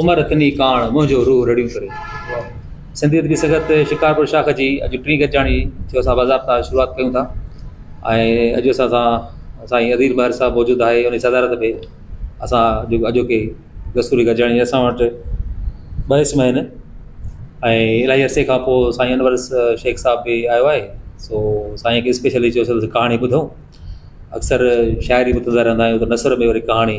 عمر ڪني ڪاڻ، منهنجو روح رڙيون ڪري. سنڌي ادبي سنگت شڪارپور شاخ جي اڄ ٽين گڏجاڻي جو اسان باضابطا شروعات ڪيون ٿا ۽ اڄ اسان سان سائين عظير ماهر صاحب موجود آهي انهي صدارت ۾ اسان جيڪو اڄوڪي دستوري گڏجاڻي اسان وٽ ٻه اسم آهن ۽ الائي عرصي کان پوء سائين انور شيخ صاحب به آيو آهي سو سائين کي اسپيشلي چيو سي ڪهاڻي ٻڌو اڪثر شاعري ٻڌندا رهندا آهيون ته نثر ۾ وري ڪهاڻي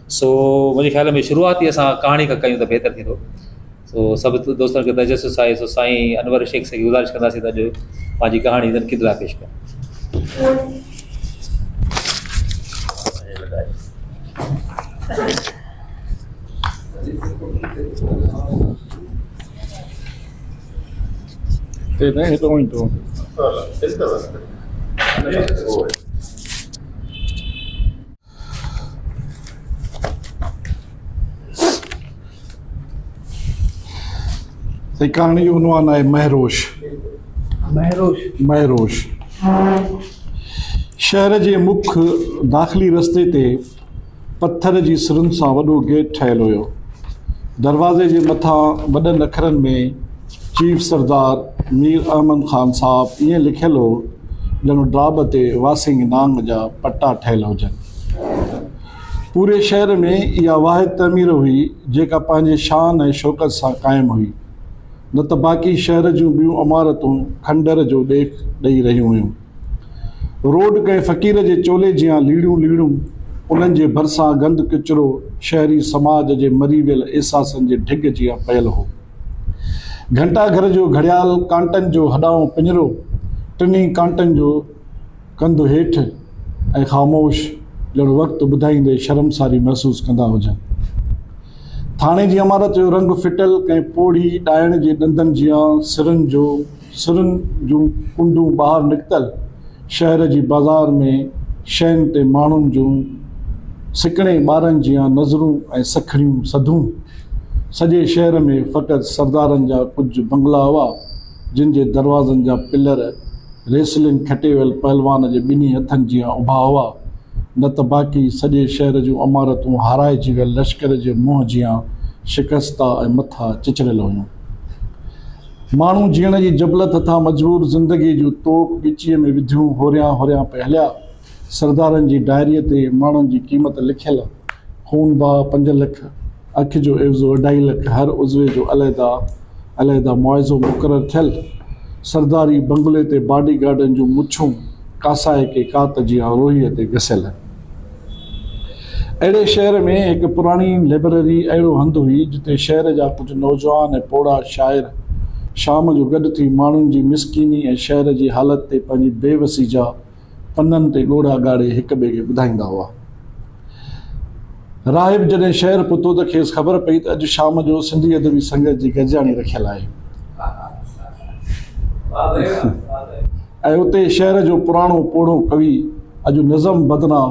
سو منهنجي خيال ۾ شروعات ئي اسان ڪهاڻي کان ڪيون ته بهتر ٿيندو سو سڀ دوستن کي تجسس آهي سو سائين انور شيخ سان گذارش ڪنداسين ته اڄ پنهنجي ڪهاڻي تنقيد لاء پيش ڪن سائين ڪهاڻي جو عنوان آهي مهروش مهروش مهروش شهر جي مک داخلي رستي تي پٿر جي سرن سان وڏو گيٽ ٺهيل هيو دروازي جي مٿان وڏن اکرن ۾ چيف سردار مير احمد خان صاحب ائين لکيل هو ڄڻ ڊاڀ تي واسينگ نانگ جا پٽا ٺهيل هجن. پوري شهر ۾ اها واحد تعمير هئي جيڪا پنهنجي شان ۽ شوڪت سان قائم هئي نه ته باقي شهر جون ٻيون عمارتون کنڊر جو ڏيک ڏئي رهيون هيون. روڊ ڪنهن فقير جي چولي جيان ليڙيون ليڙيون انهن جي ڀرسان گند ڪچرو شهري سماج جي مري ويل احساسن جي ڍڳ جيان پيل هو. گهنٽا گهر جو گهڙيال ڪانٽن جو هڏائون پڃرو، ٽنهي ڪانٽن جو ڪنڌ هيٺ ۽ خاموش ڄڻ وقت ٻڌائيندي شرمساري محسوس ڪندا هجن. ٿاڻي جي عمارت جو رنگ ڦٽل ڪنهن پوڙهي ڏائڻ جي ڏندن جيان سرن جو سرن جون ڪنڊون ٻاهر نڪتل، شهر جي بازار ۾ شين تي ماڻهن جون سڪڻي ٻارن جيان نظرون ۽ سکڻيون سڌون. سڄي شهر ۾ فقط سردارن جا ڪجهه بنگلا هئا، جن جي دروازن جا پلر ريسلنگ کٽي ويل پهلوان جي ٻنهي هٿن جيان اڀا هئا، نه ته باقي سڄي شهر جون عمارتون هارائجي ويل لشڪر جي منهن جيان شڪستا ۽ مٿا چچريل هيون. ماڻهو جيئڻ جي جبلت هٿان مجبور زندگيء جون توڪ ڳچيء ۾ وڌيون هوريان هوريان پئي هليا. سردارن جي ڊائريء تي ماڻهن جي قيمت لکيل، خون بهه پنج لک، اک جو عيوضو اڍائي لک، هر عضوي جو عليحده عليحده معاوضو مقرر ٿيل، سرداري بنگلي تي باڊي گارڊن جون مڇون ڪاسائڪي ڪات جيان روهيء تي گسيل. اهڙي شهر ۾ هڪ پراڻي لئبرري اهڙو هنڌ هئي، جتي شهر جا ڪجهه نوجوان ۽ پوڙها شاعر شام جو گڏ ٿي ماڻهن جي مسڪيني ۽ شهر جي حالت تي پنهنجي بي وسي جا پنن تي ڳوڙها ڳاڙي هڪ ٻئي کي ٻڌائيندا هئا. راهب جڏهن شهر پهتو ته کيس خبر پئي ته اڄ شام جو سنڌي ادبي سنگت جي گڏجاڻي رکيل آهي ۽ اتي شهر جو پراڻو پوڙهو ڪوي اڄ نظم بدران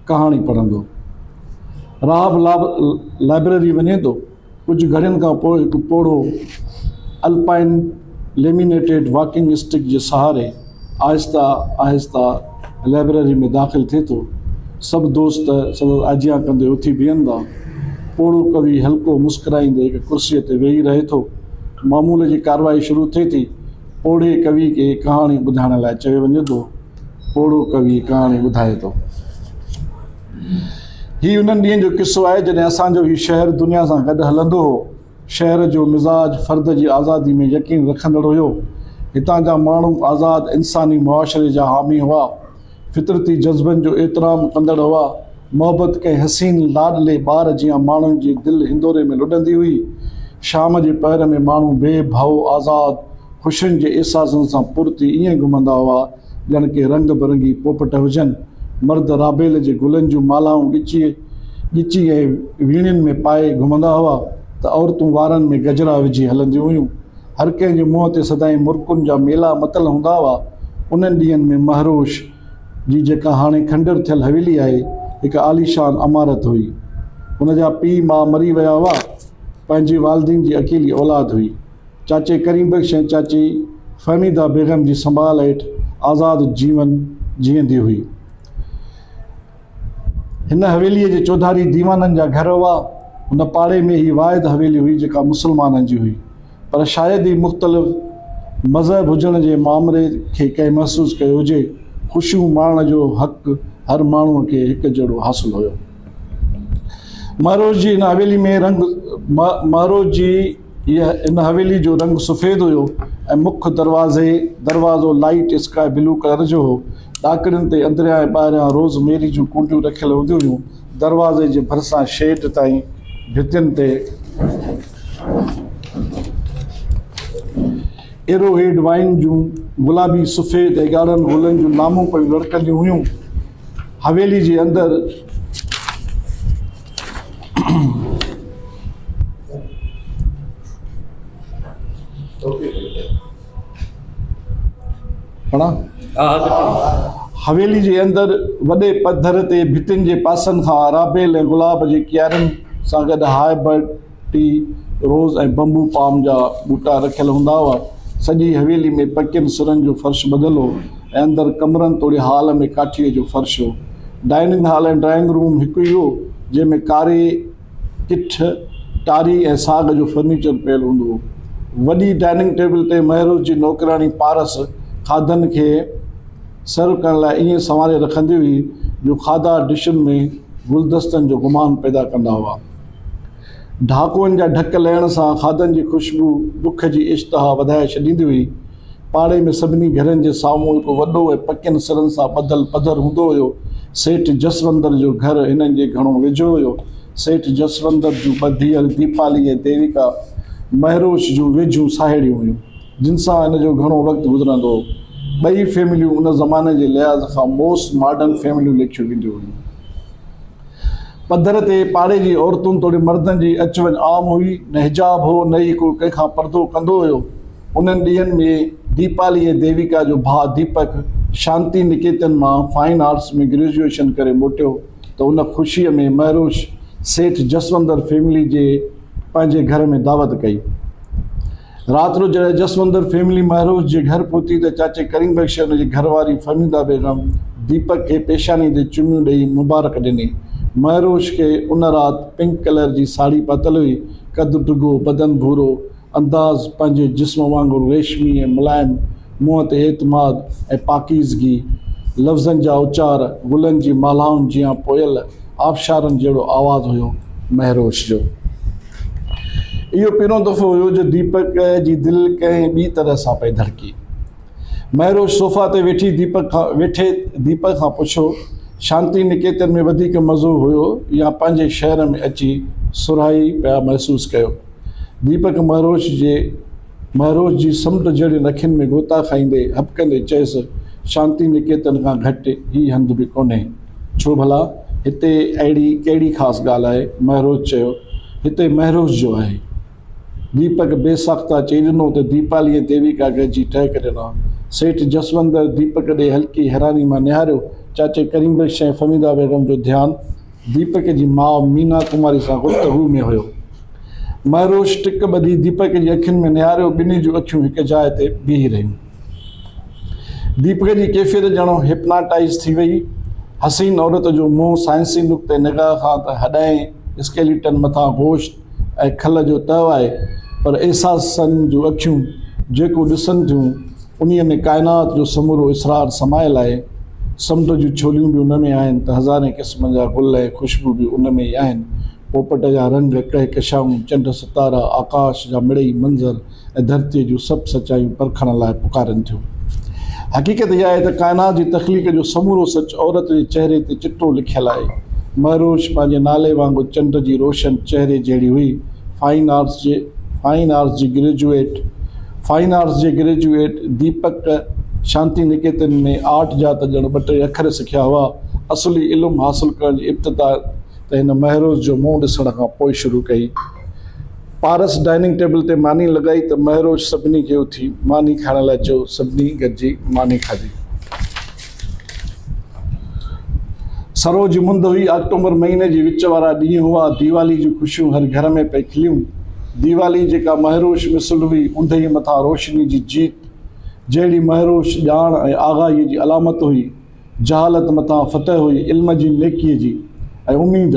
ڪهاڻي پڙهندو. رهاب لائبريري وڃي ٿو. ڪجهه گهڙين کان پوء هڪ پوڙهو الپائن ليمينيٽيڊ واڪنگ اسٽڪ جي سهاري آهستي آهستي لائبريري ۾ داخل ٿئي ٿو. سڀ دوست سندس آجيان ڪندي اٿي بيهن ٿا. پوڙهو ڪوي هلڪو مسڪرائيندي هڪ ڪرسي تي ويهي رهي ٿو. معمول جي ڪارروائي شروع ٿئي ٿي. پوڙهي ڪوي کي ڪهاڻي ٻڌائڻ لاء چيو وڃي ٿو. پوڙهو ڪوي ڪهاڻي ٻڌائي ٿو. هي انهن ڏينهن جو قصو آهي، جڏهن اسان جو هي شهر دنيا سان گڏ هلندو هو. شهر جو مزاج فرد جي آزادي ۾ يقين رکندڙ هيو. هتان جا ماڻهو آزاد انساني معاشري جا حامي هئا. فطرتي جذبن جو احترام ڪندڙ هئا. محبت ڪنهن حسين لاڏلي ٻار جيان ماڻهن جي دل هندوري ۾ لڏندي هئي. شام جي پهر ۾ ماڻهو بي ڀؤ، آزاد، خوشين جي احساسن سان پر ٿي ائين گهمندا هئا ڄڻ ڪي رنگ برنگي پوپٽ هجن. مرد رابيل جي گلن جون مالهائون ڳچيء ڳچي ۽ ويڻين ۾ پائي گهمندا هئا ته عورتون وارن ۾ گجرا وجهي هلنديون هيون. هر ڪنهن جي منهن تي سدائين مرڪن جا ميلا متل هوندا هئا. انهن ڏينهن ۾ مهروش. جي جيڪا هاڻي کنڊر ٿيل حويلي آهي، هڪ عاليشان عمارت هئي. هن جا پيء ماء مري ويا هئا. پنهنجي والدين جي اڪيلي اولاد هئي. چاچي ڪريم بخش ۽ چاچي فهميده بيگم جي سنڀال هيٺ آزاد جيون جيئندي هئي. هن حويليء جي چوڌاري ديوانن جا گهر هئا. هن پاڙي ۾ هي واحد حويلي هئي جيڪا مسلمانن جي هئي، پر شايد ئي مختلف مذهب هجڻ جي مامري کي ڪنهن محسوس ڪيو هجي. خوشيون ماڻڻ جو حق هر ماڻهوء کي هڪ جهڙو حاصل هيو. مهروش جي هن حويلي ۾ رنگ مهروش جي. ان حويلي جو رنگ سفيد هيو ۽ مک دروازي، دروازو، لائيٽ اسڪائي بلو ڪلر جو هو. ڏاڪڻين تي اندريان ۽ ٻاهريان روز ميري جون ڪونڊيون رکيل هونديون هيون. دروازي جي ڀرسان شيڊ تائين ڀتين تي ايرو هيڊ وائين جون گلابي، سفيد ۽ ڳاڙهن گلن جون لامون پيون لڙڪنديون هيون. حويلي جي اندر. حويلي جي اندر وڏي پڌر تي ڀتين جي پاسن کان رابيل ۽ گلاب جي ڪيارين سان گڏ هاء برڊ ٽي، روز ۽ بمبو پام جا ٻوٽا رکيل هوندا هئا. سڄي حويلي ۾ پڪين سرن جو فرش ٻڌل هو ۽ اندر ڪمرن توڙي هال ۾ ڪاٺيء جو فرش هو. ڊائننگ هال ۽ ڊرائنگ روم هڪ ئي هو، جنهن ۾ ڪاري ڪٺ، ٽاري ۽ ساڳ جو فرنيچر پيل هوندو هو. وڏي ڊائننگ ٽيبل تي مهروش جي نوڪراڻي پارس کاڌن کي سرو ڪرڻ لاء ائين سنواري رکندي هئي، جو کاڌا ڊشن ۾ گلدستن جو گمان پيدا ڪندا هئا. ڍاڪوئن جا ڍڪ لهڻ سان کاڌن جي خوشبو بک جي اشتها وڌائي ڇڏيندي هئي. پاڙي ۾ سڀني گهرن جي سامهون هڪ وڏو ۽ پڪين سرن سان ٻڌل پڌر هوندو هيو. سيٺ جسوندر جو گهر هنن جي گهڻو ويجهو هيو. سيٺ جسوندر جون ٻه ڌيئر ديپالي ۽ ديويڪا مهروش جون ويجهيون ساهيڙيون هيون، جن سان هن جو گهڻو وقت گذرندو هو. ٻئي فيمليون ان زماني جي لحاظ کان موسٽ ماڊرن فيمليون ليکيون وينديون هيون. پڌر تي پاڙي جي عورتن توڙي مردن جي اچ وڃ عام هئي، نه حجاب هو نه ئي ڪو ڪنهن کان پردو ڪندو هيو. انهن ڏينهن ۾ ديپالي ۽ ديويڪا جو ڀاء ديپڪ شانتي نڪيتن مان فائن آرٽس ۾ گريجوئيشن ڪري موٽيو ته ان خوشي ۾ مهروش سيٺ جسوندر فيملي جي پنهنجي گهر ۾ دعوت ڪئي. رات رو جڏهن جسوندر فيملي مهروش جي گهر پهتي ته چاچي ڪريم بخش ۽ ان جي گهر واري فهميده بيگم ديپڪ کي پيشاني تي چميون ڏئي مبارڪ ڏني. مهروش کي ان رات پنڪ ڪلر جي ساڙهي پاتل هئي، قد ڊگهو، بدن ڀورو، انداز پنهنجي جسم وانگر ريشمي ۽ ملائم، منهن تي اعتماد ۽ پاڪيزگي، لفظن جا اچار گلن جي مالهائن جيان پويل آبشارن جهڙو آواز هيو مهروش جو. اهو پهريون دفعو هيو جو ديپڪ جي دل ڪنهن ٻي طرح سان پئي ڌڙڪي. مهروش صوفا تي ويٺي ديپڪ کان ويٺي ديپڪ کان پڇيو، شانتي نڪيتن ۾ وڌيڪ مزو هيو يا پنهنجي شهر ۾ اچي سرهائي پيا محسوس ڪيو؟ ديپڪ مهروش جي. مهروش جي سمنڊ جهڙين اکين ۾ غوطا کائيندي هٻڪندي چيس، شانتي نڪيتن کان گهٽ هي هنڌ به ڪونهي. ڇو ڀلا؟ هتي اهڙي ڪهڙي خاص ڳالهه آهي؟ مهروش چيو، هتي مهروش جو آهي. ديپڪ بي ساخته چئي ڏنو ته ديپالي ۽ ديويڪا گهجي ٽهڪ ڏنا. سيٺ جسوندر ديپڪ ڏي هلڪي حيراني مان نهاريو، چاچي ڪريم بخش ۽ فهميده بيگم جو ڌيان، ديپڪ جي ماء مينا ڪماري سان گفتگو ۾ هيو. مهروش ٽڪ ٻڌي ديپڪ جي اکين ۾ نهاريو ٻنهي جون اکيون هڪ جاء تي بيهي رهيون. ديپڪ جي ڪيفيت ڄڻو هپناٽائيز ٿي وئي. حسين عورت جو منهن سائنسي نقطه نگاهه کان ته هڏائين، اسڪيليٽن مٿان گوشت، ۽ کل جو تهه آهي، پر احساسن جون اکيون جيڪو ڏسن ٿيون، انهيء ۾ ڪائنات جو سمورو اسرار سمايل آهي. سمنڊ جون ڇوليون به ان ۾ آهن ته هزارين قسمن جا گل ۽ خوشبو به ان ۾ ئي آهن. پوپٽ جا رنگ، ڪهڪشائون، چنڊ ستارا، آڪاش جا مڙئي منظر، ۽ ڌرتيء جون سڀ سچايون پرکڻ لاء پڪارين ٿيون. حقيقت اها آهي ته ڪائنات جي تخليق جو سمورو سچ عورت جي چهري تي چٽو لکيل آهي. مهروش پنهنجي نالي وانگر چنڊ جي روشن چهري جهڙي هئي. فائن آرٽس جي فائن آرٽس جي گريجوئيٽ فائن آرٽس جي گريجوئيٽ ديپڪ شانتي نڪيتن ۾ آرٽ جا ته ڄڻ ٻه ٽي اکر سکيا هئا. اصلي علم حاصل ڪرڻ جي ابتدا ته هن مهروش جو منهن ڏسڻ کان پوء شروع ڪئي. پارس ڊائننگ ٽيبل تي ماني لڳائي ته مهروش سڀني کي اٿي ماني کائڻ لاء چيو. سڀني گڏجي ماني کاڌي. سرو جي مند هئي. آڪٽومبر مهيني جي وچ وارا ڏينهن هئا. ديوالي جون خوشيون هر گهر ۾ پئي کليون. ديوالي جيڪا مهروش مثل هئي، اوندهي مٿان روشني جي جيت، جهڙي مهروش ڄاڻ ۽ آگاهيء جي علامت هئي، جهالت مٿان فتح هئي علم جي نيڪيء جي ۽ اميد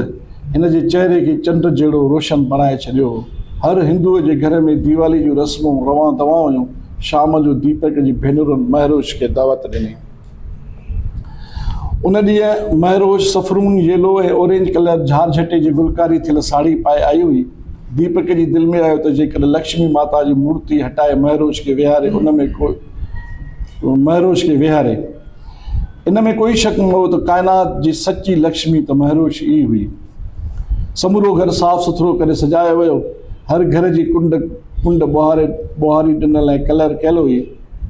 هن جي چهري کي چنڊ جهڙو روشن بڻائي ڇڏيو هو. هر هندوء جي گهر ۾ ديوالي جون رسمون روان دوان هيون. شام جو ديپڪ جي ڀينرن مهروش کي دعوت ڏني. ان ڏينهن Mehrosh saffron, yellow ۽ orange colour جهارجهٽي جي گلڪاري ٿيل ساڙهي پائي آئي هئي. ديپڪ جي دل ۾ آيو ته جيڪڏهن لڪشمي ماتا جي مورتي هٽائي مهروش کي ويهاري ان ۾ ڪو مهروش کي ويهاري. ان ۾ ڪوئي شڪ نه هو ته ڪائنات جي سچي لڪشمي ته مهروش ئي هئي. سمورو گهر صاف سٿرو ڪري سجايو ويو. هر گهر جي ڪنڊ ڪنڊ ٻوهاري ٻوهاري ڏنل ۽ ڪلر ڪيل هئي.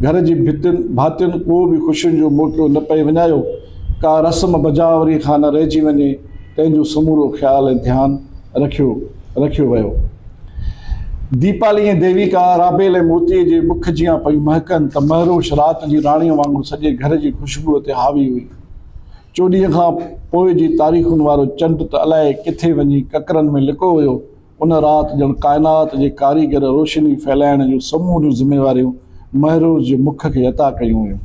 گهر جي ڀتين ڀاتين ڪو به خوشين جو موقعو نه پئي وڃايو. ڪا رسم بجاء وري کان نه رهجي وڃي، تنهن جو سمورو خيال ۽ ڌيان رکيو. رکيو ويو. ديپالي ۽ ديويڪا رابيل ۽ موتيء جي مک جيان پيون مهڪن ته مهروش رات جي راڻيء وانگر سڄي گهر جي خوشبوء تي حاوي هئي. چوڏهينء کان پوء جي تاريخن وارو چنڊ ته الائي ڪٿي وڃي ڪڪرن ۾ لڪو ويو. ان رات ڄڻ ڪائنات جي ڪاريگر روشني ڦهلائڻ جون سموريون ذميواريون مهروش جي مک کي عطا ڪيون ويون.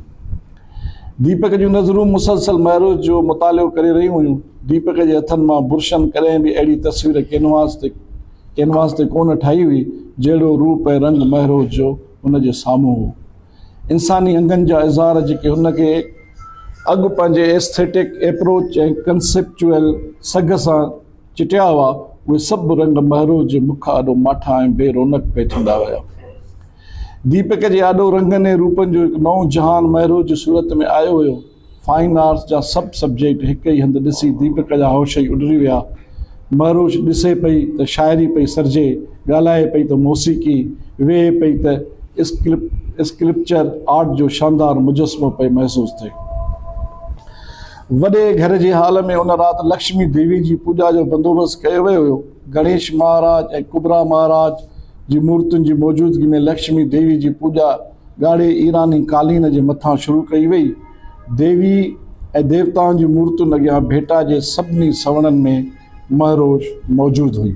ديپڪ جون نظرون مسلسل مهروش جو مطالعو ڪري رهيون هيون. ديپڪ جي هٿن مان برشن ڪڏهن به اهڙي تصوير ڪينواس تي ڪينواس تي ڪونه ٺاهي هئي، جهڙو روپ ۽ رنگ مهروش جو هن جي سامهون هو. انساني انگن جا اظهار جيڪي هن کي اڳ پنهنجي ايسٿيٽڪ ايپروچ ۽ ڪنسيپچوئل سگهه سان چٽيا هئا، اهي سڀ رنگ مهروش جي مک آڏو ماٺا ۽ بي رونق پئي ٿيندا ويا. ديپڪ جي آڏو رنگن ۽ روپن جو هڪ نئون جهان مهروء جي صورت ۾ آيو هيو. فائن آرٽس جا سڀ سبجيڪٽ هڪ ئي هنڌ ڏسي ديپڪ جا هوش ئي اڏري ويا. مهروش ڏسي پئي ته شاعري پئي سرجي، ڳالهائي پئي ته موسيقي، ويهي پئي ته اسڪلپچر آرٽ جو شاندار مجسمو پئي محسوس ٿئي. وڏي گهر جي هال ۾ ان رات لڪشمي ديوي جي پوڄا جو بندوبست ڪيو ويو هيو. گڻيش مهاراج ۽ ڪبرا مهاراج جي مورتين جي موجودگي ۾ لڪشمي ديوي جي پوڄا ڳاڙهي ايراني قالين جي مٿان شروع ڪئي وئي. ديوي ۽ ديوتائن جي مورتين اڳيان ڀيٽا جي سڀني سوڻن ۾ مهروش موجود هئي.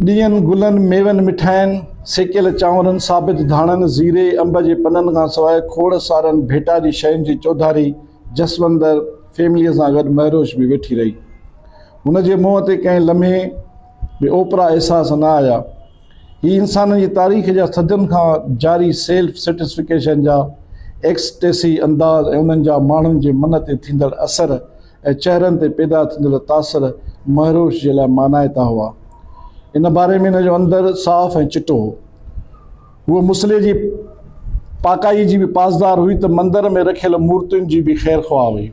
ڏيئن، گلن، ميون، مٺاين، سيڪيل چانورن، ثابت ڌاڻن، زيري، انب جي پنن کان سواء کوڙ سارن ڀيٽا جي شين جي چوڌاري، جسوندر فيمليء سان گڏ مهروش به ويٺي رهي. هن جي منهن تي ڪنهن لمحي به اوپرا احساس نه آيا. هي انسانن جي تاريخ جا صدين کان جاري سيلف سيٽسفڪيشن جا ايڪسٽيسي انداز ۽ انهن جا ماڻهن جي من تي ٿيندڙ اثر ۽ چهرن تي پيدا ٿيندڙ تاثر مهروش جي لاء مانائتا هئا. ان باري ۾ هن جو اندر صاف ۽ چٽو هو. هوء مصلي جي پاڪائيء جي به پاسدار هئي ته مندر ۾ رکيل مورتين جي به خير خواهه هئي.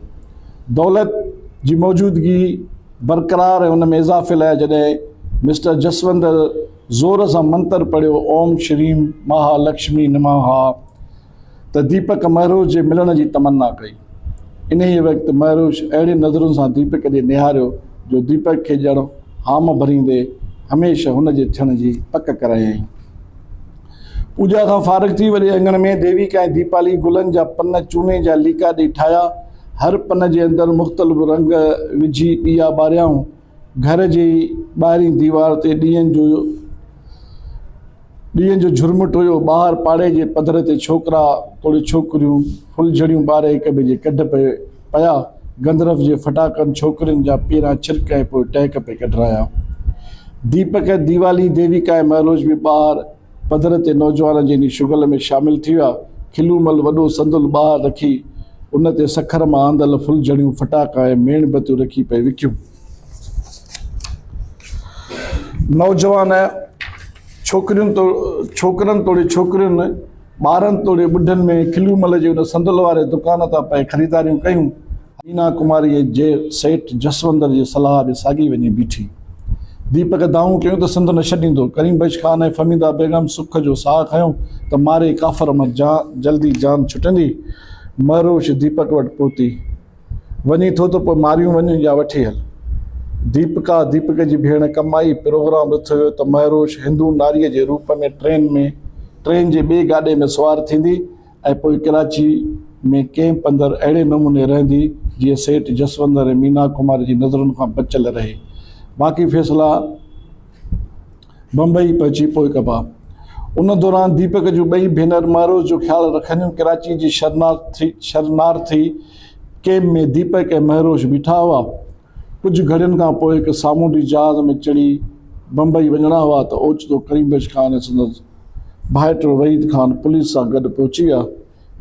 دولت جي موجودگي برقرار ۽ ان ۾ اضافي لاء جڏهن مسٽر جسوندر زور سان منتر پڙهيو اوم شريم مها لڪشمي نماها ته ديپڪ مهروش جي ملڻ جي تمنا ڪئي. انهيء وقت مهروش اهڙين نظرن سان ديپڪ ڏي نهاريو جو ديپڪ کي ڄڻ هام ڀريندي هميشه هن جي ٿيڻ جي پڪ ڪرايائين. پوڄا کان فارغ ٿي وڏي اڱڻ ۾ ديويڪا ۽ ديپالي گلن جا پن چوني جا ليڪا ڏئي ٺاهيا. هر پن جي اندر مختلف رنگ وجهي ڏيئا ٻاريائون. گهر جي ٻاهرين ديوار تي ڏيئن جو ڏيئن جو جهرمٽ هيو. ٻاهر پاڙي جي پڌر تي ڇوڪرا توڙي ڇوڪريون ڦلجهڙيون ٻاري هڪٻئي جي ڪڍ پئي پيا، گندرف جي ڦٽاڪن ڇوڪرين جا پيرا ڇرڪ ۽ پوء ٽهڪ پئي ڪڍرايا. ديپڪ ۽ ديوالي، ديويڪا ۽ مهروش به ٻاهر پڌر تي نوجوانن جي انهي شغل ۾ شامل ٿي ويا. کلو مل وڏو صندل ٻاهر رکي ان تي سکر مان آندل ڦلجهڙيون، ڦٽاڪا ۽ ميڻ بتيون رکي پئي وڪيون. نوجوان ڇوڪرين توڙي ڇوڪرن ٻارن توڙي ٻڍن ۾ کليون مل جي ان صندل واري دڪان تان پئي خريداريون ڪيون. مينا ڪماريء جي سيٺ جسوندر جي صلاح ڏي ساڳي وڃي بيٺي. ديپڪ دانهون ڪيون ته سنڌ نه ڇڏيندو. ڪريم بخش خان ۽ فهميده بيگم سک جو ساهه کنيو ته مارئي ڪافر مان جلدي جان ڇٽندي. مهروش ديپڪ وٽ پهتي. وڃين ٿو ته پوء ماريون وڃ يا وٺي هل. ديپڪا، ديپڪ جي ڀيڻ، ڪم آئي، پروگرام رٿ هيو ته مهروش هندو ناريء جي روپ ۾ ٽرين ۾ ٽرين جي ٻئي گاڏي ۾ سوار ٿيندي ۽ پوء ڪراچي ۾ ڪئمپ اندر اهڙي نموني رهندي جيئن سيٺ جسوندر ۽ مينا ڪمار جي نظرن کان بچيل رهي باقي فيصلا بمبئي پهچي پوء ڪبا. ان دوران ديپڪ جون ٻئي ڀينر معروض جو خيال رکنديون ڪراچي جي شرنارٿي ڪيمپ ۾ ديپڪ ۽ مهروش بيٺا هئا. ڪجهه گهڙين کان پوء هڪ سامونڊي جهاز ۾ چڙهي بمبئي وڃڻا هئا ته اوچتو ڪريم بخش خان ۽ سندس ڀائٽو وحيد خان پوليس سان گڏ پهچي ويا.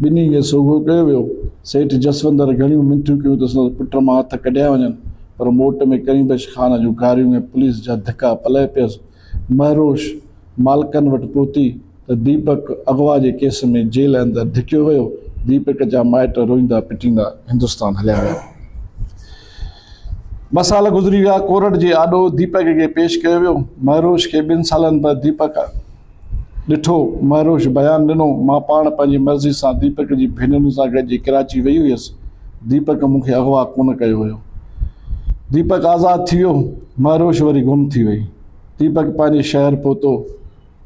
ٻنهي کي سوگهو ڪيو ويو. سيٺ جسوندر گهڻيون منٿيون ڪيون ته سندس پٽ مان هٿ ڪڍيا وڃن، پر موٽ ۾ ڪريم بخش خان جون گاريون ۽ پوليس جا ڌڪا پلئه پيس. مهروش مالڪن وٽ پهتي ته ديپڪ اغوا جي ڪيس ۾ جيل اندر ڌڪيو ويو. ديپڪ جا مائٽ روئيندا پٽيندا هندستان هليا ويا. ٻه سال گذري ويا. ڪورٽ جي آڏو ديپڪ کي پيش ڪيو ويو. مهروش کي ٻن سالن بعد ديپڪ. ڏٺو، مهروش بيان ڏنو، مان پاڻ پنهنجي مرضي سان ديپڪ جي ڀينرن سان گڏجي ڪراچي ويئي هيس، ديپڪ مون کي اغوا ڪونه ڪيو هيو. ديپڪ آزاد ٿي ويو، مهروش وري گم ٿي وئي. ديپڪ پنهنجي شهر پهتو،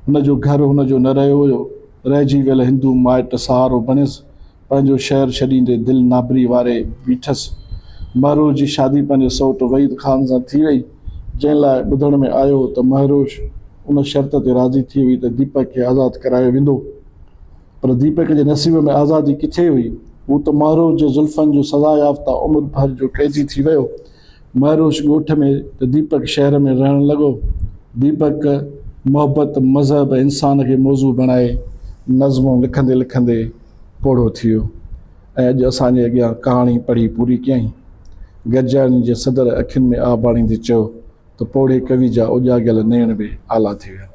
هن جو گهر هن جو نه رهيو هيو، رهجي ويل هندو مائٽ سهارو بڻيس، پنهنجو شهر ڇڏيندي دل نابري واري بيٺس. مهروش جي شادي پنهنجي سئوٽ وحيد خان سان ٿي وئي، جنهن لاء ٻڌڻ ۾ آيو هو ته مهروش ان شرط تي راضي ٿي هئي ته ديپڪ کي آزاد ڪرايو ويندو. پر ديپڪ جي نصيب ۾ آزادي ڪٿي هئي؟ هو ته مهروش جي زلفن جو سزا يافته عمر ڀر جو قيدي ٿي ويو. مهروش ڳوٺ ۾ ته ديپڪ شهر ۾ رهڻ لڳو. ديپڪ محبت، مذهب ۽ انسان کي موضوع بڻائي نظمون لکندي لکندي پوڙهو ٿي ويو ۽ اڄ اسان جي اڳيان ڪهاڻي پڙهي پوري ڪيائين. گڏجاڻي جي صدر اکين ۾ آب آڻيندي چيو ته پوڙهي ڪوي جا اوڄاڳيل نيڻ به آلا ٿي ويا.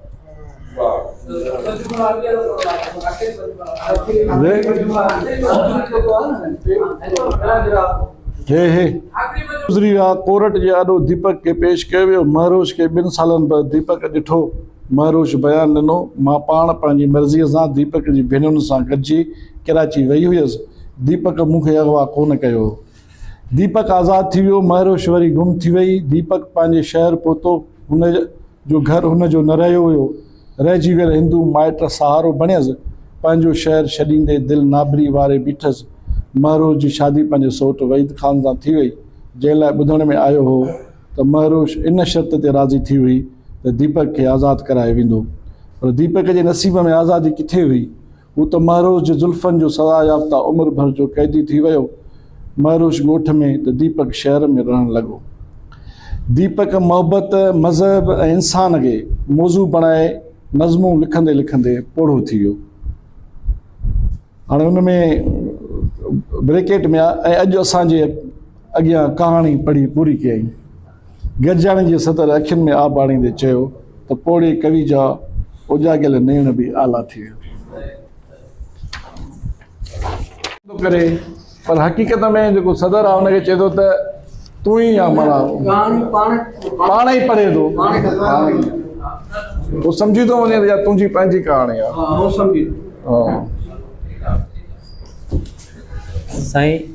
گذري ويا ڪورٽ جي آڏو ديپڪ کي پيش ڪيو ويو مهروش کي ٻن سالن بعد ديپڪ ڏٺو مهروش بيان ڏنو مان پاڻ پنهنجي مرضي سان ديپڪ جي ڀينرن سان گڏجي ڪراچي وئي هئس ديپڪ مون کي اغوا ڪونه ڪيو هو ديپڪ آزاد ٿي ويو، مهروشوري گم ٿي وئي، ديپڪ پنهنجي شهر پهتو، هن جو گهر هن جو نه رهيو هيو، رهجي ويل هندو مائٽ سهارو بڻيس، پنهنجو شهر ڇڏيندي دل نابري واري بيٺس، مهروش جي شادي پنهنجي سوٽ وحيد خان سان ٿي وئي، جنهن لاء ٻڌڻ ۾ آيو هو ته مهروش ان شرط تي راضي ٿي هئي ته ديپڪ کي آزاد ڪرايو ويندو، پر ديپڪ جي نصيب ۾ آزادي ڪٿي هئي، هو ته مهروش جي زلفن جو سزا يافته عمر ڀر جو قيدي ٿي ويو. مهروش ڳوٺ ۾ ته ديپڪ شهر ۾ رهڻ لڳو. ديپڪ محبت، مذهب ۽ انسان کي موضوع بڻائي نظمون لکندي لکندي پوڙهو ٿي ويو. هاڻي ان ۾ بريڪيٽ ۾ آ ۽ اڄ اسان جي اڳيان ڪهاڻي پڙهي پوري ڪيائين. گرجاڻي جي صدر اکين ۾ آب آڻيندي چيو ته پوڙهي ڪوي جا اوڄاڳيل نيڻ به آلا ٿي ويا. ٿو ڪري پر حقيقت ۾ جيڪو صدر آهي ان کي چئي ٿو ته تون ئي يا مانا پاڻ ئي پڙهي ٿو هو سمجهي ٿو وڃي ته يا تنهنجي پنهنجي ڪهاڻي آهي سائين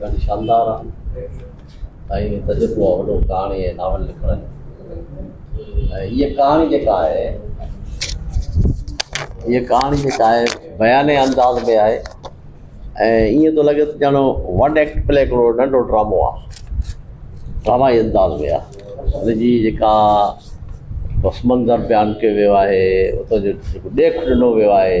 ڏاڍي شاندار آ ۽ تجربو آ وڏو ڪهاڻي ۽ ناول لکڻ جو ۽ هيء ڪهاڻي جيڪا آهي هيء ڪهاڻي جيڪا آهي بيانيه انداز ۾ آهي ۽ ائين ٿو لڳي ته ڄڻ ون ايڪٽ پلي هڪڙو ننڍو ڊرامو آ ڊرامائي انداز ۾ آ هن جي جيڪا پس منظر بيان ڪيو ويو آهي اتو جو ڏيک ڏنو ويو آهي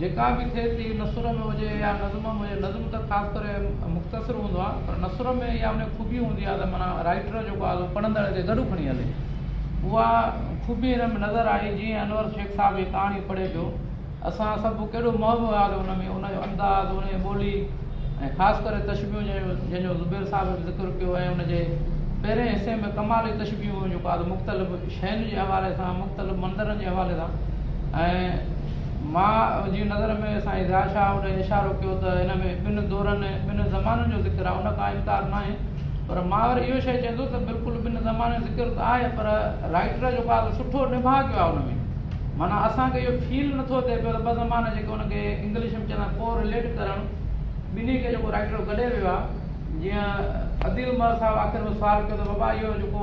جيڪا به ٿئي ٿي نثر ۾ هجي يا نظم ۾ هجي نظم ته خاص ڪري مختصر هوندو آهي پر نثر ۾ اها ان جي خوبي هوندي آهي ته معنيٰ رائٽر جيڪو آهي سو پڙهندڙ کي گڏ کڻي هلي اها خوبي هن ۾ نظر آئي جيئن انور شيخ صاحب هي ڪهاڻي پڙهي پيو اسان سڀ ڪيڏو محو وياسي ان ۾ ان جو انداز ان جي ٻولي ۽ خاص ڪري تشبيهون جنهن جو زبير صاحب به ذڪر ڪيو ۽ ان جي پهرين حصي ۾ ڪمال جي تشبيهون جيڪو آهي مختلف شين جي حوالي سان مختلف منظرن جي حوالي سان ۽ ماء جي نظر ۾ سائين ضياء شاهه اوڏي اشارو ڪيو ته ان ۾ ٻن دورن ۽ ٻن زمانن جو ذڪر آهي ان ڪا انڪار ناهي پر مان وري اهو شيء چئندو ته بلڪل ٻن زمانن ذڪر ته آهي پر رائٽر جو ڪا ته سٺو نڀاء ڪيو آهي ان ۾ معنيٰ اسان کي اهو فيل نٿو ٿئي پيو ته ٻه زمانا جيڪي ان کي انگلش ۾ چوندا ڪو رليٽ ڪرڻ ٻنهي کي جيڪو رائٽر گڏي ويو آهي جيئن عديل مهر صاحب آخر ۾ سوال ڪيو ته بابا اهو جيڪو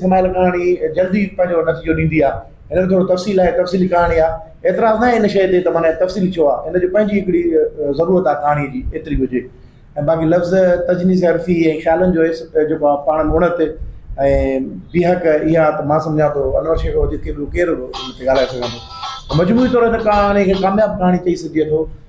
سمايل ڪهاڻي جلدي پنهنجو نتيجو ڏيندي آ هن ۾ ٿورو تفصيل آهي تفصيلي ڪهاڻي آ اعتراض ناهي ان شئي تي ته معنيٰ تفصيلي ڇو آ هن جو پنهنجي هڪڙي ضرورت آ ڪهاڻي جي ايتري هجي ۽ باقي لفظ تجنيس حرفي ۽ خيالن جو هيس جيڪو آ پاڻ ۾ اڻت ۽ بيهڪ اها ته مان سمجهان ٿو انور شيخ کان وڌيڪ ڪير ان تي ڳالهائي سگهندو مجموعي طور هن ڪهاڻي کي ڪامياب ڪهاڻي چئي سگهجي ٿو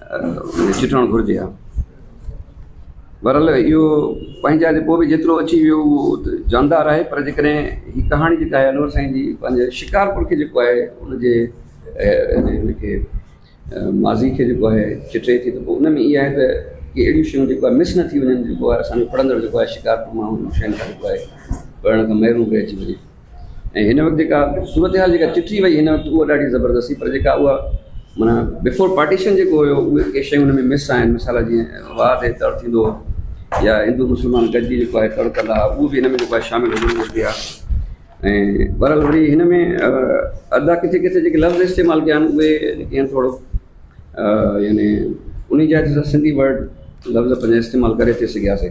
۾ چٽڻ گهرجي ها. بهرحال اهو پنهنجي جاء تي پوء به جيترو اچي ويو اهو جاندار آهي پر جيڪڏهن هي ڪهاڻي جيڪا آهي انور سائين جي پنهنجي شڪارپور کي جيڪو آهي ان جي ان کي ماضي کي جيڪو آهي چٽي ٿي ته پوء ان ۾ اهي آهي ته ڪي اهڙيون شيون جيڪو آهي مس نه ٿي وڃن جيڪو آهي اسان جو پڙهندڙ جيڪو آهي شڪارپور ماڻهو شين کان جيڪو آهي پڙهڻ کان محروم رهجي وڃي ۽ هن وقت جيڪا صورتحال جيڪا چٽي وئي هن وقت اها ڏاڍي زبردست هئي پر جيڪا اها معنيٰ بفور پارٽيشن جيڪو هيو اهي ڪي شيون هن ۾ مس آهن مثال جيئن وار تي تڙ ٿيندو هو يا هندو مسلمان گڏجي جيڪو آهي تڙ ڪندا هئا اهو بي هن ۾ جيڪو آهي شامل هجڻ گهرجي ها ۽ برحال وري هن ۾ ادا ڪٿي ڪٿي جيڪي لفظ استعمال ڪيا آهن اهي جيڪي آهن ٿورو يعني انهي جاء تي سنڌي ورڊ لفظ پنهنجا استعمال ڪري ٿي سگهياسي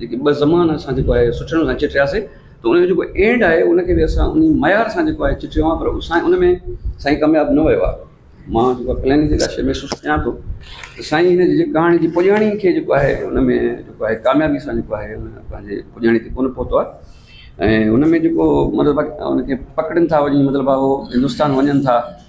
جيڪي ٻه زمان اسان جيڪو آهي سٺڙن سان چٽياسي ته ان جو جيڪو اينڊ آهي ان کي به اسان انهي معيار سان جيڪو آهي چٽيو آهي پر سائين ان ۾ سائين ڪامياب نه ويو آهي مان جيڪو پليننگ جي لاء شيء محسوس ڪيان ٿو ته سائين هن جي ڪهاڻي جي پڄاڻي کي جيڪو آهي ان ۾ جيڪو آهي ڪاميابي سان جيڪو آهي ان پنهنجي پڄاڻي تي ڪونه پهتو آهي ۽ ان ۾ جيڪو مطلب ان کي پڪڙين ٿا وڃي مطلب اهو هندوستان وڃن ٿا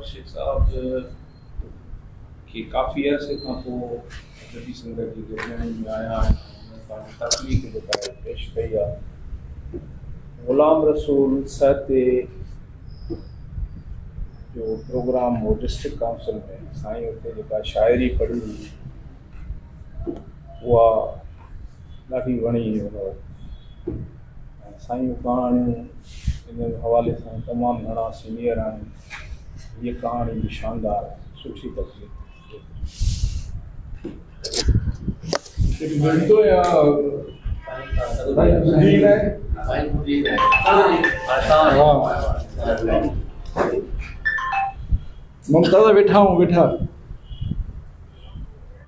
مرشد صاحب کي ڪافي عرصي کان پوء ادبي سنگت جي درميان ۾ آيا آهن ۽ پنهنجي تخليق جيڪا پيش ڪئي آهي غلام رسول سهتي جو پروگرام هو ڊسٽرڪٽ ڪائونسل ۾ سائين اتي جيڪا شاعري پڙهي هئي اها ڏاڍي وڻي هن وقت سائين جون ڪهاڻيون ان حوالي سان تمام گهڻا سينئر آهن هيء ڪهاڻي به شاندار سٺي درجي تي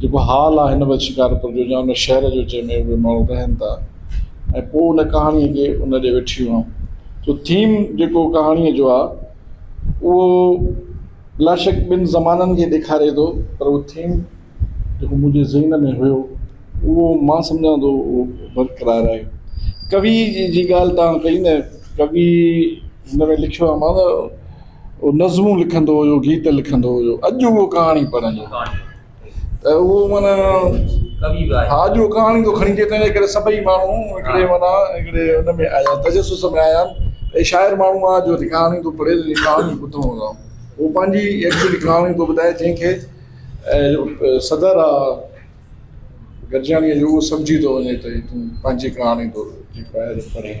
جيڪو حال آ هن وقت شڪارپور جو يا ان شهر جو جنهن ۾ اهي ماڻهو رهن ٿا ۽ پوء ان ڪهاڻيء کي ان ڏي وٺي ويهون جو ٿيم جيڪو ڪهاڻيء جو آ اهو بلاشڪ ٻن زمانن کي ڏيکاري ٿو پر اهو ٿيم جيڪو منهنجي ذهن ۾ هيو اهو مان سمجهان ٿو اهو برقرار آهي ڪوي جي ڳالهه تان ڪئي نه ڪوي هن ۾ لکيو آ هو نظمون لکندو هيو، گيت لکندو هيو. اڄ اهو ڪهاڻي پڙهندو ته اهو معنيٰ ڪوي به آهي. ها اڄ اهو ڪهاڻي ٿو کڻي اچي تنهنجي ڪري سڀئي ماڻهو هڪڙي معنيٰ هڪڙي ان ۾ آيا تجسس ۾ آيا آهن ته شاعر ماڻهو آهي جو ڪهاڻي ٿو پڙهي ته جيئن ڪهاڻي ٻڌو هوندا آهن. هو پنهنجي ايڪچوئلي ڪهاڻي ٿو ٻڌائي جنهن کي صدر آ گڏجاڻيء جو اهو سمجهي ٿو وڃي ته هي تون پنهنجي ڪهاڻي ٿو جيڪو آهي پڙهين.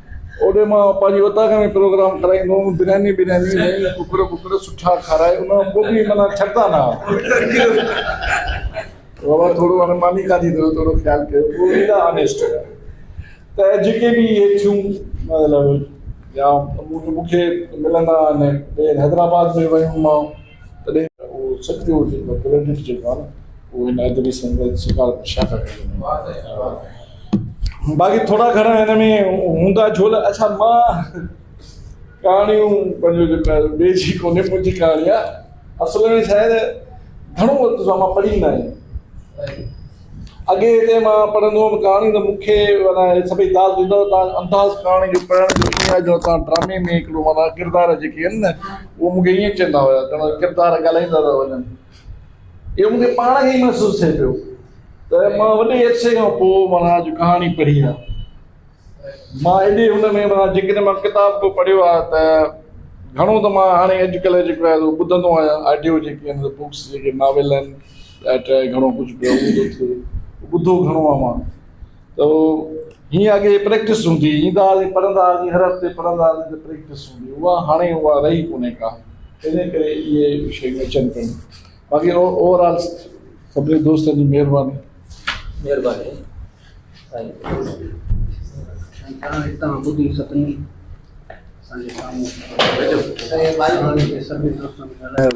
اوڏي مان پنهنجي اوطاق ۾ پروگرام ڪرائيندو هوم، برياني برياني ۽ ڪڪڙ ٻڪڙ سٺا کارائي ان کان پوء به معنيٰ ڇڏندا نه هئا. بابا ٿورو هاڻي ماني کاڌي اٿو ٿورو خيال ڪيو پوء ايڏا آنيسٽ هيا ته جيڪي به اهي ٿيون مطلب يا مون کي ملندا آهن ٻيهر حيدرآباد ۾ ويم مان تڏهن اهو سچ پيو هجي ته پلينيٽ جيڪو آهي نه اهو هن ادبي سمندر جي شڪار ۾ شاهڪار ٿي وڃي ها باقي ٿورا گهڻا هن ۾ هوندا جھول اڇا مان ڪهاڻيون پنهنجو جيڪو آهي ٻئي جي ڪونهي منهنجي ڪهاڻي آهي اصل ۾ شايد گهڻو وقت سان مان پڙهي نه آهي اڳي هتي مان پڙهندو هوم ڪهاڻي ته مون کي معنيٰ سڀئي داد ڏيندا هئا ته انداز ڪهاڻي جو پڙهڻ جو ائين آهي جو تان ڊرامي ۾ هڪڙو معنيٰ ڪردار جيڪي آهن نه اهو مون کي ائين چوندا هيا ڄڻ ڪردار ڳالهائيندا ٿا وڃن اهو مون کي پاڻ کي ئي محسوس ٿئي پيو ته مان وڏي عرصي کان پوء معنيٰ اڄ ڪهاڻي پڙهي آ مان ايڏي هن ۾ معنيٰ جيڪڏهن مان ڪتاب ڪو پڙهيو آ ته گهڻو ته مان هاڻي اڄڪلهه جيڪو آهي سو ٻڌندو آهيان آڊيو جيڪي آهن بڪس جيڪي ناول آهن ٽهائي ٽهائي گهڻو ڪجهه پيو هوندو ٿي ٻڌو گهڻو آ مان ته هيئن اڳي پريڪٽس هوندي هئي ايندا هئاسين پڙهندا هئاسين هر هفتي پڙهندا هئاسين ته پريڪٽس هوندي هئي اها هاڻي اها رهي ڪونهي ڪا تنهن ڪري اهي شيون اچن پيون باقي اوور آل سڀني دوستن جي مهرباني مهرباني هتان ٻڌي سڀني اسان جي سامهون سڀني دوستن ڳالهايو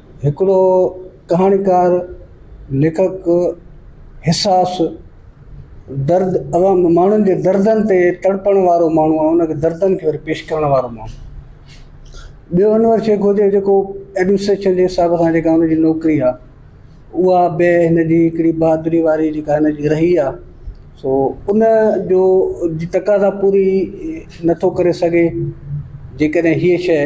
هڪڙو ڪهاڻيڪار، ليکڪ، حساس، درد عوام ماڻهن جي دردن تي تڙپڻ وارو ماڻهو ۽ ان کي دردن کي وري پيش ڪرڻ وارو ماڻهو. ٻيو انور شيخ هجي جيڪو ايڊمنسٽريشن جي حساب سان جيڪا ان جي نوڪري آ اها به هن جي هڪڙي بهادري واري جيڪا هن جي رهي آ سو ان جو جي تقاضا پوري نٿو ڪري سگهي جيڪڏهن هيء شيء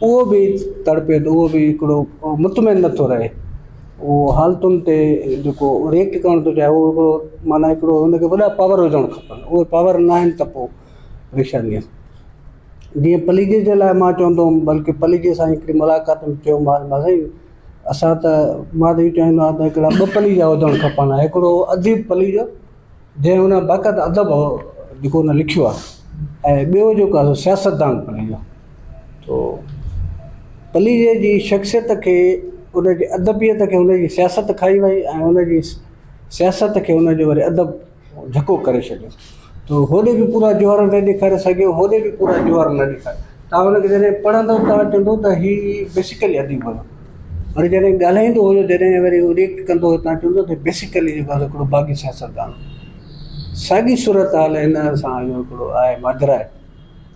اهو به تڙپي ٿو، اهو به هڪڙو مطمئن نٿو رهي، اهو حالتن تي جيڪو ريڪٽ ڪرڻ ٿو چاهي اهو هڪڙو معنيٰ هڪڙو هن کي وڏا پاور هجڻ کپن، اهي پاور نه آهن ته پوء پريشاني آهي. جيئن پليجي جي لاء مان چوندو هوم بلڪه پليجي سان هڪڙي ملاقات ۾ چيومانس مان سائين اسان ته مان ته اهو چاهيندو آهيان ته هڪڙا ٻه پليجا هجڻ کپن هڪڙو اديب پليجو جنهن ان بقد ادب جيڪو ان لکيو آهي ۽ ٻيو جيڪو آهي سياستدان پليجو تو پليجي جي شخصيت کي ان جي ادبيت کي ان جي سياست کائي وئي ۽ ان جي سياست کي ان جو ادب ڌڪو ڪري ڇڏيو تو هوڏي به پورا جوهر نه ڏيکاري سگهيو هوڏي به پورا جوهر نه ڏيکاري تان ان کي جڏهن پڙهندو تان چوندو ته هي بيسڪلي اديب هو وري جڏهن ڳالهائيندو هو جڏهن وري هو ريئڪٽ ڪندو هو تان چوندو هو ته بيسڪلي جيڪو آهي سو هڪڙو باغي سياستدان هو ساڳي صورت حال هن سان اهو هڪڙو آهي ماجرا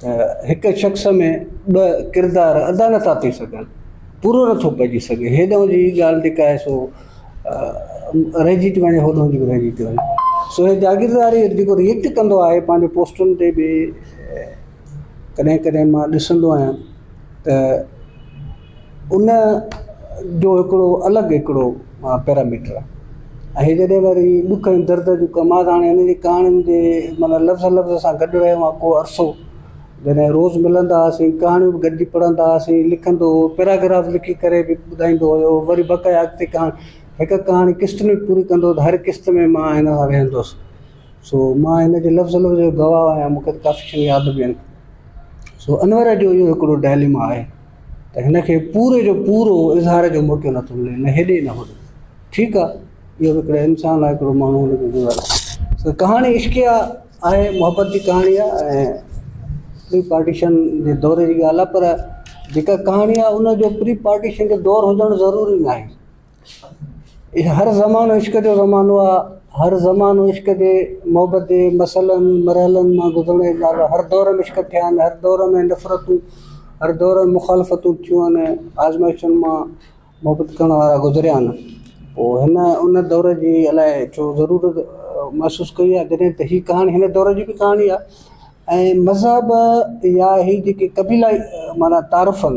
ته هڪ شخص ۾ ٻه ڪردار ادا نٿا ٿي سگهن پورو نٿو پئجي سگهي هيڏانهن جي هي ڳالهه جيڪا آهي سو رهجي ٿي وڃي هوڏانهن جي به رهجي ٿي وڃي سو هي جاگيرداري جيڪو ريئڪٽ ڪندو آهي پنهنجي پوسٽن تي به ڪڏهن ڪڏهن مان ڏسندو آهيان ته ان جو هڪڙو الڳ هڪڙو پيراميٽر آهي ۽ جڏهن وري ڏک ۽ درد جون ڪم آهي هاڻي هن جي ڪهاڻين جي معنيٰ لفظ لفظ سان گڏ رهيو آهيان ڪو عرصو جڏهن روز ملندا هئاسين ڪهاڻيون به گڏجي پڙهندا هئاسين لکندو هو پيراگراف لکي ڪري به ٻڌائيندو هيو وري بقايا اڳتي ڪهاڻي هڪ ڪهاڻي قسط ۾ به پوري ڪندو هو ته هر قسط ۾ مان هن سان ويهندو هوس سو مان هن جي لفظ لفظ جو گواهه آهيان مون کي ته ڪافي شيون ياد به آهن سو انور جو اهو هڪڙو ڊائليما آهي ته هن کي پوري جو پورو اظهار جو موقعو نٿو ملي نه هيڏي نه هوڏي ٺيڪ آ اهو هڪڙو انسان آ هڪڙو ماڻهو هن کي گذاري سو ڪهاڻي عشقيه آهي محبت جي ڪهاڻي آ ۽ پري پارٽيشن جي دور جي ڳالهه آ پر جيڪا ڪهاڻي آ ان جو پري پارٽيشن جو دور هجڻ ضروري ناهي هر زمانو عشق جو زمانو آ هر زمانو عشق جي محبت جي مسئلن مرحلن مان گذرڻ جي ڳالهه آ هر دور ۾ عشق ٿيا آهن هر دور ۾ نفرتون هر دور ۾ مخالفتون ٿيون آهن آزمائشن مان محبت ڪرڻ وارا گذريا آهن پوء هن ان دور جي الاء ڇو ضرورت محسوس ڪئي آ جڏهن ته هي ڪهاڻي هن دور جي به ڪهاڻي آ ۽ مذهب يا هي جيڪي قبيلائي معنيٰ تعارف آهن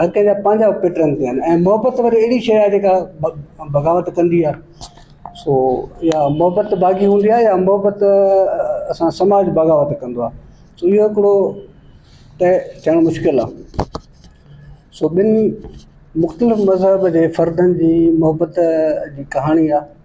هر ڪنهن جا پنهنجا پيٽرن ٿيا آهن ۽ محبت وري اهڙي شيء آهي جيڪا بغاوت ڪندي آهي سو يا محبت باغي هوندي آهي يا محبت اسان سماج بغاوت ڪندو آهي سو اهو هڪڙو طئي ٿيڻ مشڪل آهي سو ٻن مختلف مذهب جي فردن جي محبت جي ڪهاڻي آهي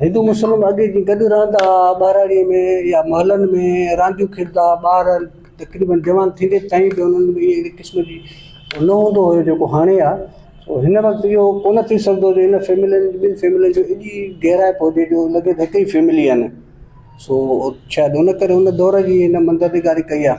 هندو مسلم اڳي جيئن گڏ رهندا ها، ٻهراڙيء ۾ يا محلن ۾ رانديون کيڏندا ها، ٻار تقريبن جوان ٿيندي تائين به انهن ۾ اهڙي قسم جي نه هوندو هيو جيڪو هاڻي آهي، سو هن وقت اهو ڪونه ٿي سگهندو جو ان فيملين ٻن فيملين جي ايڏي گهرائپ هجي جو لڳي ته هڪ ئي فيملي آهن، سو شايد ان ڪري ان دور جي هن منظر نگاري ڪئي آهي.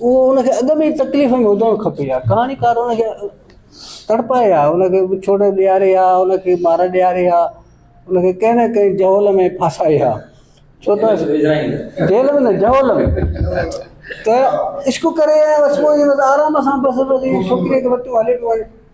اهو ان کي اڳ ۾ ئي تڪليف ۾ هجڻ کپي ها. ڪهاڻيڪار ان کي تڙپائي ها، ان کي وڇوڙ ڏياري ها، ان کي مار ڏياري ها، ان کي ڪنهن نه ڪنهن جهول ۾ ڦاسائي ها. ڇو ته جيل ۾ نه جهول ۾ ته عشق ڪري ۽ بس پوء آرام سان بس وري ڇوڪريء کي وتيون هلي پيو وڃي.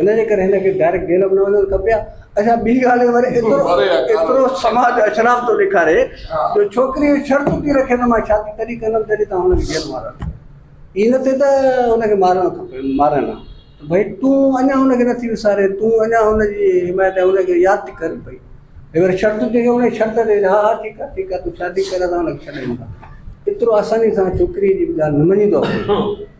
ان جي ڪري هن کي ڊائريڪٽ جيل به نه وڃڻ کپي ها اچا ٻي ڳالهه هي وري ايترو ايترو سماج اشراف ٿو ڏيکاري جو ڇوڪري شرط ٿي رکي ته مان شادي تڏهن ڪندم جڏهن تان هن کي جيل مارڻ کپي هي نه ٿي ته هن کي مارڻ کپي مارن ها ڀئي تون اڃا هن کي نٿي وساري تون اڃا هن جي حمايت هن کي ياد ٿي ڪري پئي هي وري شرط ٿي ڪري ان شرط تي ها ها ٺيڪ ها ٺيڪ ها تون شادي ڪر اسان هن کي ڇڏيون ٿا ايترو آساني سان ڇوڪري جي ڳالهه نه مڃيندو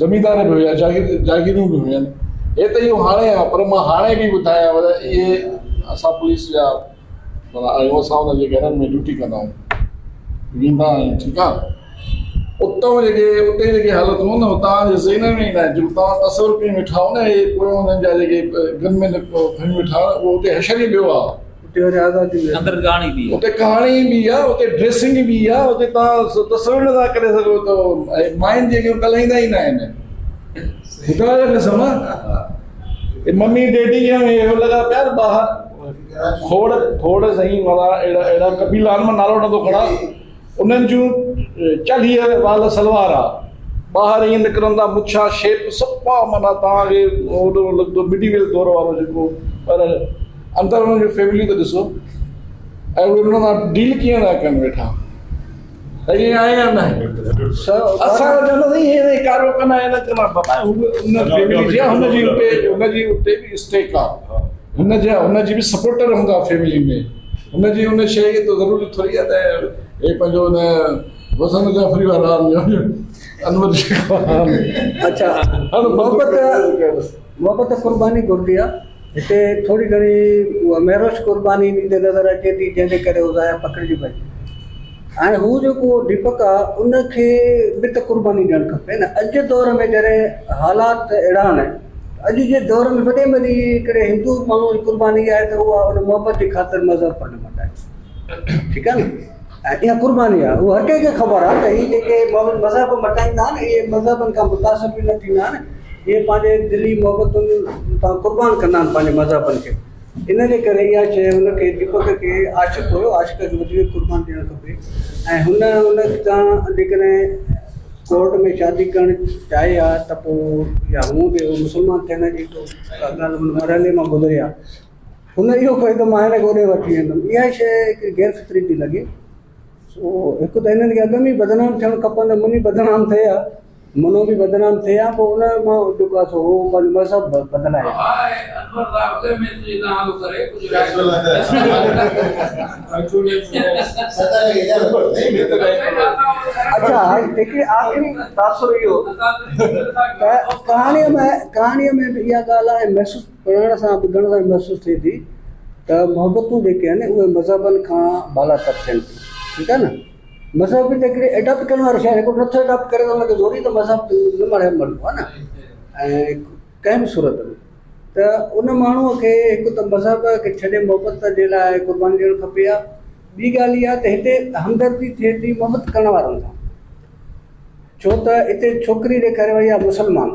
زميندار به هيا، جاگيرون به هيون. هي ته اهو هاڻي آهي، پر مان هاڻي به ٻڌايان ته اهي اسان پوليس جا ڀلا آهيون، اسان انهن جي گهرن ۾ ڊيوٽي ڪندا آهيون، ويندا آهيون، ٺيڪ آهي. اتئون جيڪي اتي جيڪي حالتون هيون نه، هو توهان جي ذهنن ۾ ئي ناهن، جيڪو توهان تصور ڪري ويٺا آهيو نه، اهي پويون انهن جا جيڪي گن مين کڻي ويٺا آهيو، اهو اتي حشر ئي ٻيو آهي. اندر ڪهاڻي به اتي ڪهاڻي به آ اتي ڊريسنگ به آ اتي تان تصور نه ٿا ڪري سگهو ته ماين جي اڳيان ڪلهائيندا ئي نه آهن ٻڌايو ته نه سما ممي ڊيڊي جي اهو لڳا پيا ٻاهر کوڙ کوڙ سائين مالا اهڙا اهڙا قبيلا آهن مان نالو نه ٿو کڻا انهن جون چلهيء وال سلوارا، ٻاهر ائين نڪرندا مڇا شيپ صفا معنيٰ توهان کي هوڏو لڳندو مڊيويل دور وارو جيڪو پر اندر انهن جون فيمليون ته ڏسو ۽ اهي انهن سان ڊيل ڪيئن ٿا ڪن ويٺا ائين آهي يا نه اسان چوندا سائين هي ائين ڪارو ڪن ائين نه ڪن بابا هو ان فيملي جي هن جي اتي هن جي اتي به اسٽيڪ آهي هن جا هن جي به سپورٽر هوندا فيملي ۾ هن جي ان شيء کي ته ضروري ٿوري آهي ته هي پنهنجو ان وزن جعفري وارا انور شيخ خان اچا هر محبت محبت قرباني گهرجي ها هتي ٿوري گهڻي مهروش قرباني ڏيندي نظر اچي ٿي جنهن جي ڪري هو ضايع پکڙجي پئي هاڻي هو جيڪو ڊيپڪ آ ان کي به ته قرباني ڏيڻ کپي نه اڄ جي دور ۾ جڏهن حالات اهڙا آهن ته اڄ جي دور ۾ وڏي ۾ وڏي ڪهڙي هندو ماڻهو جي قرباني آهي ته اها ان محبت جي خاطر مذهب پڻ نه مٽائي ٺيڪ آهي نه ۽ اها قرباني آهي اها هر ڪنهن کي خبر آهي ته هي جيڪي ماڻهو مذهب مٽائيندا آهن اهي مذهبن کان متاثر به نه ٿيندا آهن اهي پنهنجي دلي محبتن تان قربان ڪندا آهن پنهنجي مذهبن کي ان جي ڪري اها شيء هن کي ديپڪ کي عاشق هيو عاشق کي وڌيڪ قربان ڏيڻ کپي ۽ هن ان سان جيڪڏهن ڪورٽ ۾ شادي ڪرڻ چاهي ها ته پوء يا هونء به هو مسلمان ٿيڻ جي تو ڪا ڳالهه هن مرحلي مان گذري ها هن اهو ڪيو ته مان هن کي اوڏي وٺي ويندم اها شيء هڪ غير فطري ٿي لڳي سو هڪ ته هنن کي اڳ ۾ ئي بدنام ٿيڻ کپندو منهن بدنام ٿئي ها منو به بدنام ٿئي ها پوء ان مان جو ڪا سو هو پنهنجو مذهب بدلائي ها. اڇا هڪڙي آخري تاثر اهو ته ڪهاڻي ۾ ڪهاڻي ۾ به اها ڳالهه آهي محسوس پڙهڻ سان ٻڌڻ سان محسوس ٿئي ٿي ته محبتون جيڪي آهن اهي مذهبن کان بالاتر ٿين ٿيون ٺيڪ آهي نه. مذهب به هڪڙي ايڊاپٽ ڪرڻ واري شيء هڪڙو نٿو ايڊاپٽ ڪري ان کي زوري ته مذهب نه مڙهي مڙهبو آهي نه ۽ ڪنهن به صورت ۾ ته ان ماڻهوء کي هڪ ته مذهب کي ڇڏي محبت جي لاء قرباني ڏيڻ کپي ها ٻي ڳالهه اها ته هتي همدردي ٿئي ٿي محبت ڪرڻ وارن سان ڇو ته هتي ڇوڪري ڏيکاري وئي آهي مسلمان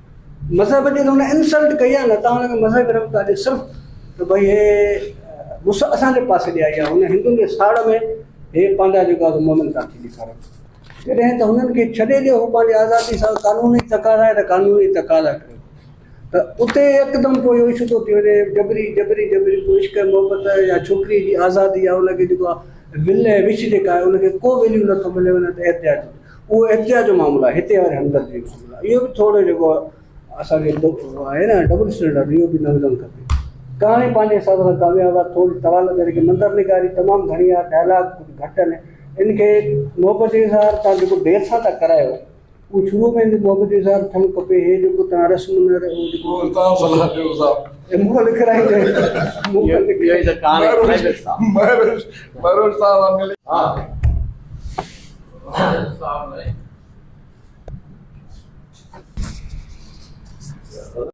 مذهب جي ته هن انسلٽ ڪئي آهي نه تان هن کي مذهب رنگ ٿا ڏي صرف ته ڀئي هي مس اسان جي پاسي ڏي آئي آهي هن هندن جي ساڙ ۾ هي پنهنجا جيڪو آهي مومن ٿا ٿي ڏيکارن جڏهن ته هنن کي ڇڏي ڏيو هو پنهنجي آزادي سان قانوني تقاضا آهي ته قانوني تقاضا ڪريو ته اتي يڪدم پوء اهو ايشو ٿو ٿي وڃي جبري جبري جبري پوء عشق محبت يا ڇوڪري جي آزادي يا ان کي جيڪو آهي ول وش جيڪا آهي ان کي ڪو ويليو نٿو ملي وڃي ته احتجاج اهو احتجاج جو معاملو آهي هتي وري همدردي جو معاملو آهي اهو به ٿورو جيڪو اسان کي آهي نه ڊبل اسٽينڊرڊ اهو به نه هجڻ کپي ڪهاڻي پنهنجي حساب سان ڪامياب آهي ٿوري طوال ڪري ڪي مندر نگاري تمام گهڻي آهي ڊائلاگ ڪجهه گهٽ آهن ان کي محبت جي اظهار تان جيڪو دير سان ٿا ڪرايو اهو شروع ۾ محبت جي اظهار ٿيڻ کپي هي جيڪو تان رسم نه رهي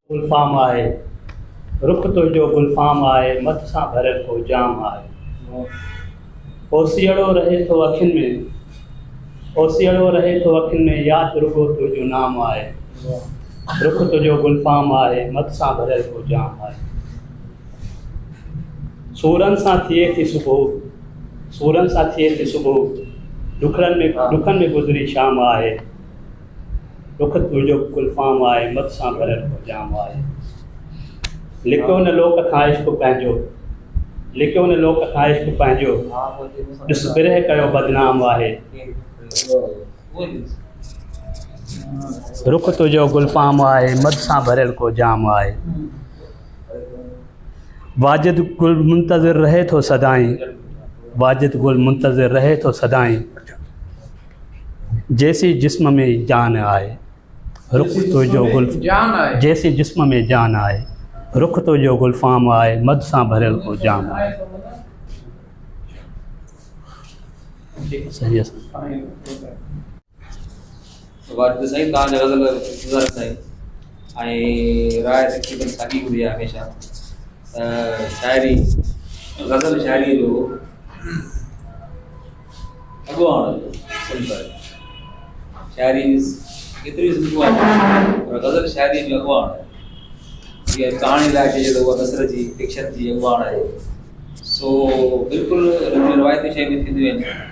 گلفام آهي رخ تنهنجو گلفام آهي مٿ سان ڀريل ڪو جام آهي اوسيئڙو رهي ٿو اکين ۾ اوسيئڙو رهي ٿو اکين ۾ ياد رڳو تنهنجو نام آهي رخ تنهنجو گلفام آهي مٿ سان ڀريل ڪو جام آهي سورن سان ٿئي ٿي صبح، سورن سان ٿئي ٿي صبح، ڏکڙن ۾ ڏکن ۾ گذري شام آهي، ڏک تنهنجو به گلفام آهي، مت سان ڀريل ڪو جام آهي. لڪيو نه لوڪ کان عشق پنهنجو، لڪيو نه لوڪ کان عشق پنهنجو، ڏس برهه ڪيو بدنام آهي. رخ تنهنجو گلفام آهي، مت سان ڀريل ڪو جام آهي. واجد گل منتظر رهي ٿو سدائين واجد گل منتظر رهي ٿو سدائين جيسي جسم ۾ جان آهي رخ تو جو گل جيسي جسم ۾ جان آهي رخ تو جو گل فام آهي مد سان ڀريل ڪو جام آهي صحيح وارد سائين تان جا غزل گزار سائين ۽ راء تقريبن ساڳي هوندي آهي هميشه شاعري غزل شاعري جو اڳواڻ صنف آهي شاعري ڪيتري صنفون آهن پر غزل شاعري جو اڳواڻ جيئن ڪهاڻي لاء چئجي ته اها نثر جي فڪشن جي اڳواڻ آهي سو بلڪل روايتي شيون ٿينديون آهن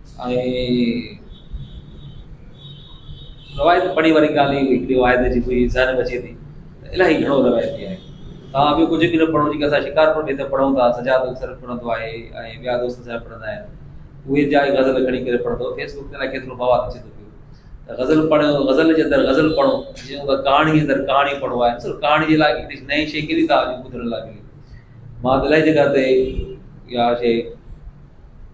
روايت پڙهي واري ڳالهه اهو هڪڙي واحد جي منهنجي ذهن ۾ اچي ٿي ته الائي گهڻو روايتي آهي توهان ٻيو ڪجهه به نه پڙهو جيڪا اسان شڪارپور ۾ هتي پڙهون ٿا سجاد اڪثر پڙهندو آهي ۽ ٻيا دوست سجاد پڙهندا آهن اهي جا غزل کڻي ڪري پڙهندو فيس بڪ تي الائي کيترو بواد اچي ٿو پيو ته غزل پڙهو غزل جي اندر غزل پڙهو جيئن ڪهاڻي جي اندر ڪهاڻي پڙهو آهي صرف ڪهاڻي جي لاء هڪڙي نئين شي ڪهڙي ٿا ٻڌڻ لاء ملي مان الائي جڳهه تي اها شي